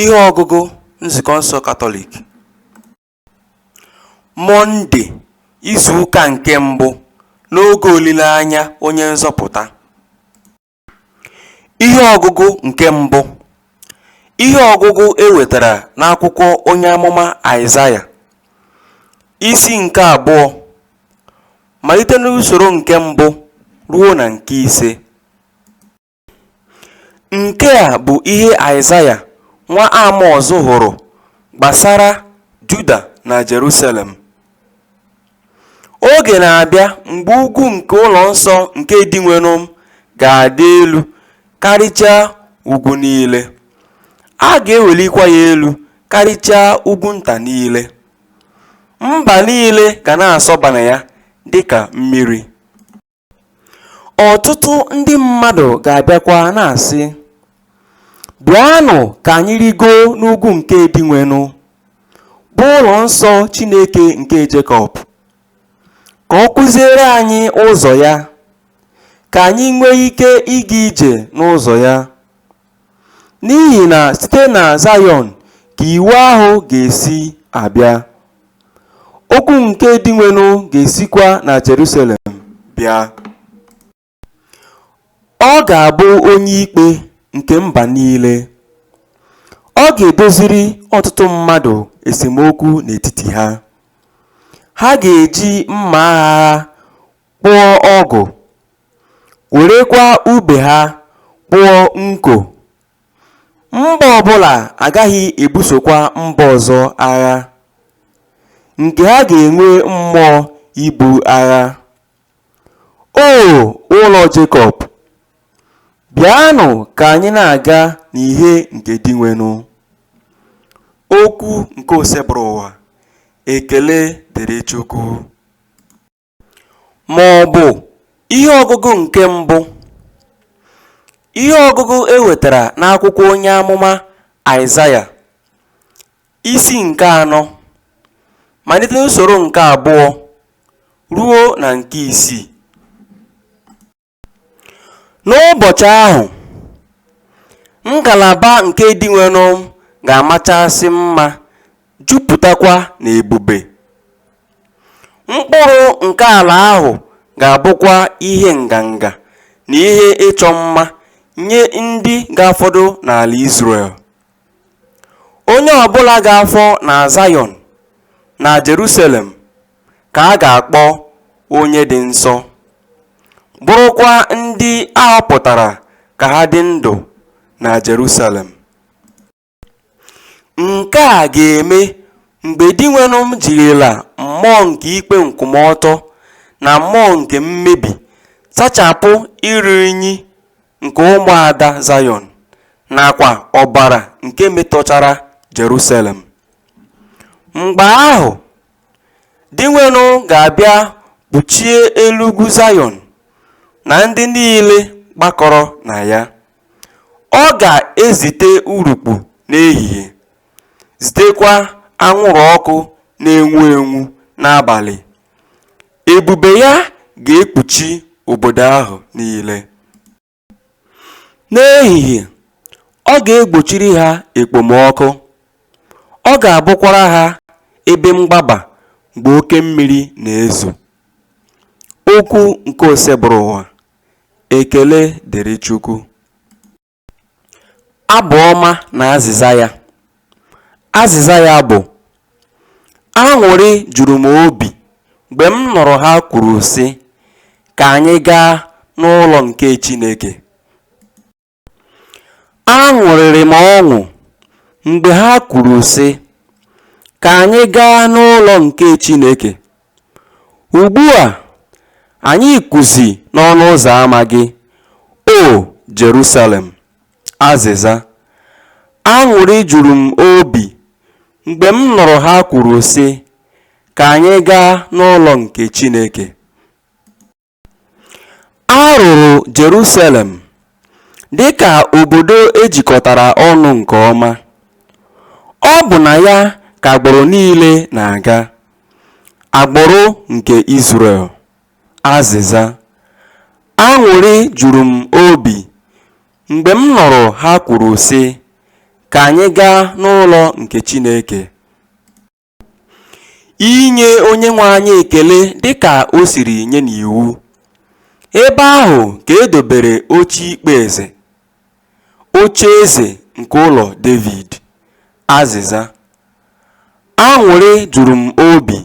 Ihe ọgụgụ Nzukọ nsọ Katọlik Mọnde izu ụka nke mbụ n'oge olileanya onye nzọpụta Ihe ọgụgụ nke mbụ Ihe ọgụgụ e wetara n'akwụkwọ onye amụma Aịzaya isi nke abụọ malite n'usoro nke mbụ ruo na nke ise Nke a bụ ihe Aịzaya nwa Amọz hụrụ gbasara Juda na Jerusalem. Oge na-abịa mgbe ugwu nke ụlọ nsọ nke Dinwenụ ga-adị elu karịchaa ugwu niile, a ga-ewelikwa ya elu karịchaa ugwu nta niile. Mba niile ga na-asọba na ya dịka mmiri. Ọtụtụ ndị mmadụ ga-abịakwa na-asị, Bịanụ ka anyị rigoo n'ugwu nke Dinwenụ, bụ ụlọ nsọ Chineke nke Jekọb, ka ọ kụziere anyị ụzọ ya, ka anyị nwee ike ịga ije n'ụzọ ya. N'ihi na site na Zayọn ka iwu ahụ ga-esi abịa, okwu nke Dinwenụ ga-esikwa na Jerusalem bịa. Ọ ga-abụ onye ikpe nke mba niile. Ọ ga-edoziri ọtụtụ mmadụ esemokwu n'etiti ha. Ha ga-eji mma agha ha kpụọ ọgụ, werekwa ube ha kpụọ nko. Mba ọ bụla agaghị ebusokwa mba ọzọ agha, nke ha ga-enwe mmụọ ibu agha. O ụlọ Jekọb, bịanụ ka anyị na-aga n'ihe nke Dinwenụ. Okwu nke Osebụrụwa. Ekele dịrị Chukwu. ma ọ bụ ihe ọgụgụ nke mbụ, ihe ọgụgụ e wetara n'akwụkwọ onye amụma Aịzaya, isi nke anọ, malite n'usoro nke abụọ ruo na nke isii. N'ụbọchị ahụ, ngalaba nke Dinwenụ ga-amachasị mma, jupụtakwa n'ebube, mkpụrụ nke ala ahụ ga-abụkwa ihe nganga na ihe ịchọ mma nye ndị ga-afọdụ n'ala Izrel. Onye ọ bụla ga-afọ na Zayọn na Jerusalem ka a ga-akpọ onye dị nsọ, bụrụkwa ndị a họpụtara ka ha dị ndụ na Jerusalem. Nke a ga-eme mgbe Dinwenụ m jirila mmụọ nke ikpe nkwụmọtọ na mmụọ nke mmebi sachapụ iru unyi nke ụmụada Zayọn nakwa ọbara nke metọchara Jerusalem. Mgbe ahụ Dinwenụ ga-abịa kpuchie elu ugwu Zayọn na ndị niile gbakọrọ na ya. Ọ ga-ezite urukpu n'ehihie, zitekwa anwụrụ ọkụ na-enwu enwu n'abalị. Ebube ya ga-ekpuchi obodo ahụ niile. N'ehihie, ọ ga-egbochiri ha ekpomọkụ, ọ ga-abụkwara ha ebe mgbaba mgbe oke mmiri na-ezo. Okwu nke Osebụrụwa. Ekele dịrị Chukwu. Abụ ọma na azịza ya. Azịza ya bụ, Aṅụrị juru m obi mgbe m nụrụ ha kwuru sị, Ka anyị gaa n'ụlọ nke Chineke. Aṅụrịrị m ọṅụ mgbe ha kwuru sị, Ka anyị gaa n'ụlọ nke Chineke. Ugbu a, anyị kwụzi n'ọnụ ụzọ ama gị, O Jerusalem. Azịza, Aṅụrị juru m obi mgbe m nụrụ ha kwuru sị, Ka anyị gaa n'ụlọ nke Chineke. A rụrụ Jerusalem dị ka obodo e jikọtara ọnụ nke ọma. Ọ bụ na ya ka agbụrụ niile na-aga, agbụrụ nke Izrel. Azịza, Aṅụrị juru m obi mgbe m nụrụ ha kwuru sị, Ka anyị gaa n'ụlọ nke Chineke. Inye Onyenwe anyị ekele dịka o siri nye n'iwu. Ebe ahụ ka e dobere oche ikpe eze Ocheeze nke ụlọ Devid. Azịza. Aṅụrị juru m obi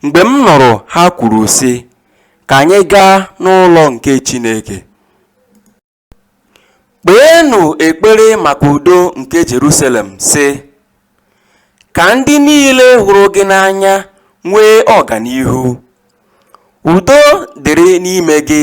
mgbe m nụrụ ha kwuru sị, Ka anyị gaa n'ụlọ nke Chineke. Kpeenụ ekpere maka udo nke Jerusalem sị, Ka ndị niile hụrụ gị n'anya nwee ọganihu. Udo dịrị n'ime gị.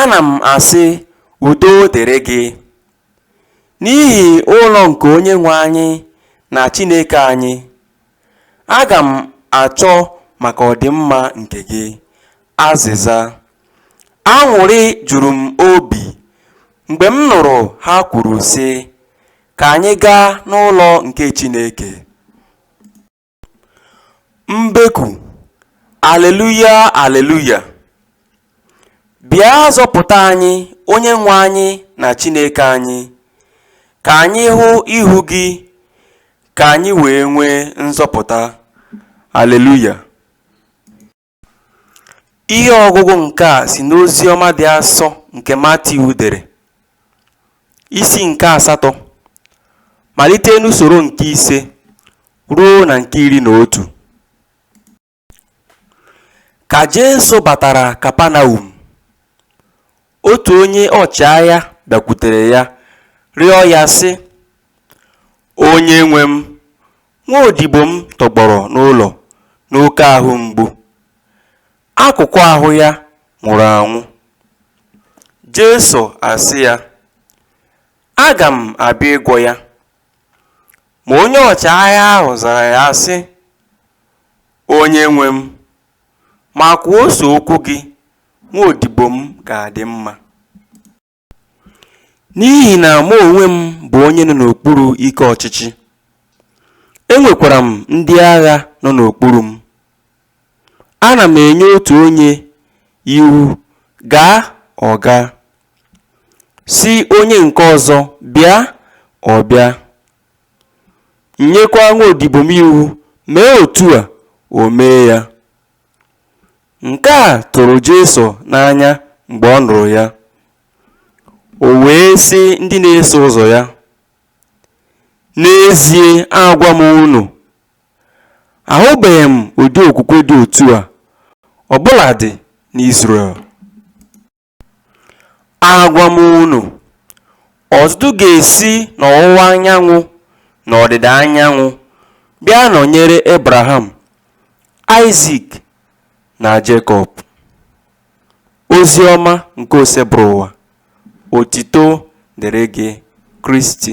Ana m asị, Udo dịrị gị, n'ihi ụlọ nke Onyenwe anyị na Chineke anyị, aga m achọ maka ọdịmma nke gị. Azịza, Aṅụrị juru m obi mgbe m nụrụ ha kwuru sị, Ka anyị gaa n'ụlọ nke Chineke. Mbeku, Aleluya, Aleluya! Bịa zọpụta anyị, Onyenwe anyị na Chineke anyị, ka anyị hụ ihu gị, ka anyị wee nwee nzọpụta. Aleluya! Ihe ọgụgụ nke a si n'Oziọma dị asọ nke Matiu dere, isi nke asatọ, malite n'usoro nke ise ruo na nke iri na otu. Ka Jesu batara Kapanaum, otu onye ọchịagha bịakwutere ya rịọ ya sị, Onyenwe m, Nwa odibo m tọgbọrọ n'ụlọ n'oke ahụ mgbu. Akụkụ ahụ ya nwụrụ anwụ. Jesu asị ya, Aga m abịa ịgwọ ya. Ma onye ọchịagha ahụ zara ya sị, Onyenwe m, ma kwuo sọ okwu gị, nwa odibo m ga-adị mma. N'ihi na mụ onwe m bụ onye nọ n'okpuru ike ọchịchị, enwekwara m ndị agha nọ n'okpuru m. Ana m enye otu onye iwu, Gaa, ọ gaa, sị onye nke ọzọ, Bịa, ọ bịa. M nyekwa nwaodibo m iwu, Mee otu a, o mee ya. Nke a tụrụ Jesu n'anya mgbe ọ nụrụ ya. O wee sị ndị na-eso ụzọ ya, N'ezie agwa m unu, ahụbeghị m ụdị okwukwe dị otu a ọ bụladị n'Izrel. Agwa m unu, ọtụtụ ga-esi n'ọwụwa anyanwụ na ọdịda anyanwụ bịa nọnyere Ebraham, Aịzik, na Jekọb. Ozi ọma nke Osebụrụwa, otito dịrị gị Kristi.